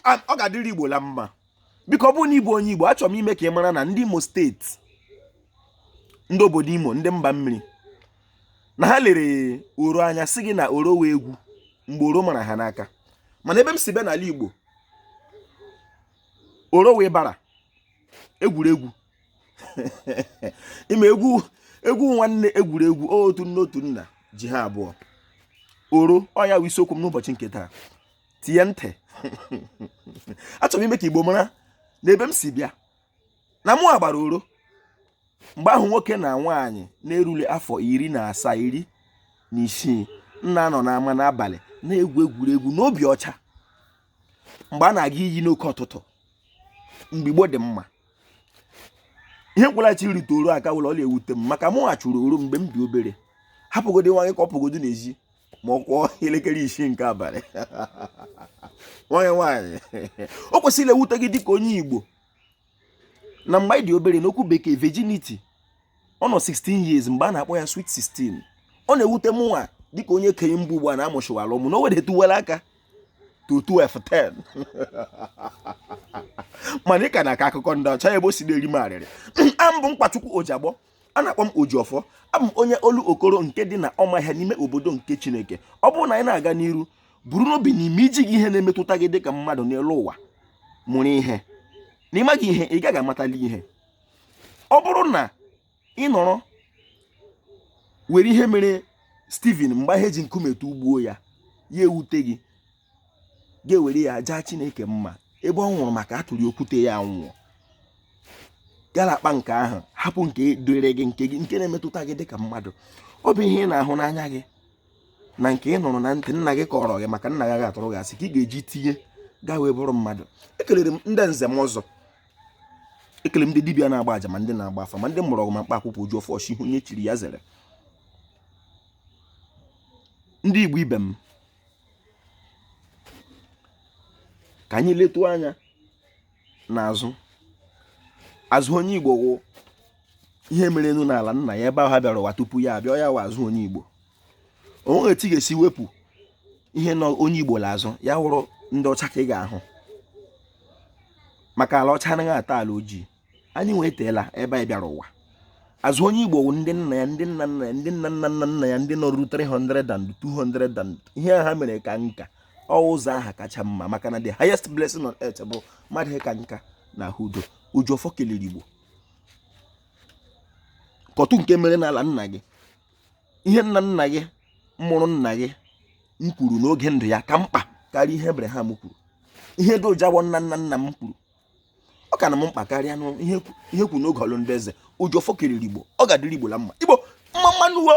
ọ ga-adịrị igbo la mma biko ọ bụrụ na ị bụ onye igbo achọrọ m ime ka ị mara na ndị imo steeti ndị obodo imo ndị mba mmiri na ha lere oro anya sị gị na oro wụ egwu mgbe oro mara ha n'aka mana ebe m si bịa n'ala igbo oro wee bara egwuregwu ị ma egwu wụ nwanne egwuregwu otu nne otu nna ji ha abụọ oro ọ ya wụ isiokwu m n'ụbọchị nke taa tinye ntị achọrọ m ime ka igbo mara na ebe m si bịa na mụwa gbara oro mgbe ahụ nwoke na nwaanyị na-erule afọ iri na asaa iri na isii na-anọ n'ama n'abalị na-egwu egwuregwu n'obi ọcha mgbe a na-aga iyi n'oke ọtụtụ mgbe igbo dị mma ihe nkwụlachi irite oro aka ụlọ ọ na-ewute m maka mụwa chụrụ oro mgbe m dị obere hapụgodu nwa gị ka ọ pụgodu n'ezi ma ọ kụọ elekere isii nke abalị onye nwaanyị o kwesịrị iwute gị dịka onye Igbo na mgbe anyị dị obere n'okwu bekee virginity ọ nọ 16 years mgbe a na-akpọ ya sweet 16 ọ na-ewute mụnwa dịka onye ke mbụ ugbu a na-amụchiwala ụmụ na o wedetụwela aka to 12 10 mana ị ka na-aka akụkọ ndị ọcha ebe o si na-eri m arịrị abụ m nkwachukwu ojagbọ a na-akpọ m Ojiọfọ abụ m onye Olokoro nke dị na ọmahịa n'ime obodo nke Chineke ọ bụrụ na anyị na-aga n'iru buru n'obi na ime ijighị ihe na-emetụta gị dịka mmadụ n'elu ụwa mụrụ ihe na ị maghị ihe ị gaghị amatali ihe ọ bụrụ na ị nọrọ were ihe mere Steven mgbe ahụ e ji nkume tụgbuo ya ya ewute gị ga-ewere ya jaa chineke mma ebe ọ nwụrụ maka a tụrụ okwute ya nwụọ galakpa nke ahụ hapụ nke dịrị gị nke gị nke na-emetụta gị dịka mmadụ ọ bụ ihe ị na-ahụ n'anya gị na nke ị nụrụ na ntị nna gị kọrọ gị maka nna gị ga-atụrụ gị asị ka ị ga-eji tinye gaa wee bụrụ mmadụ ekelere m ndị nze na ọzọ ekele m ndị dibịa na-agba aja ma ndị na-agba afa ma ndị mụrụ ọgwụ ma mkpa akwụkwọ Ojiọfọ ọchị ihe onye chiri ya zere ndị igbo ibe m ka anyị letu anya n'azụ azụ onye igbo wụ ihe merenụ n'ala nna ya ebe ahụ ha bịara ụwa tupu ya abịa ọ ya wụ azụ onye igbo o nweghị etu ị ga-esi wepụ ihe nọ onye igbo la azụ ya wụrụ ndị ọcha ka ị ga-ahụ maka ala ọcha anaghị ata ala ojii anyị nwee teela ebe anyị bịara ụwa azụ onye igbo wụ ndị nna ya ndị nna nna ya ndị nna nna nna nna ya ndị nọrụ 300 and 200 and ihe ha mere kaa nka ọ ụzọ ahụ kacha mma maka na the highest blessing on earth bụ mmadụ kaa nka n'ahụ udo oji ọfọ kelere igbo kọtụ nke mere n'ala nna gị ihe nna nna gị mụrụ nna gị kwuru n'oge ndụ ya ka mkpa karịa ihe Abraham kwuru ihe dị ụjabọ nna nna nna m kwuru ọ ka na m mkpa karịa na ihe kwu- ihe kwu n'oge ọlụ ndị eze oji ọfọ kelere igbo ọ ga-adịrị igbo la mma igbo mma mma nụ o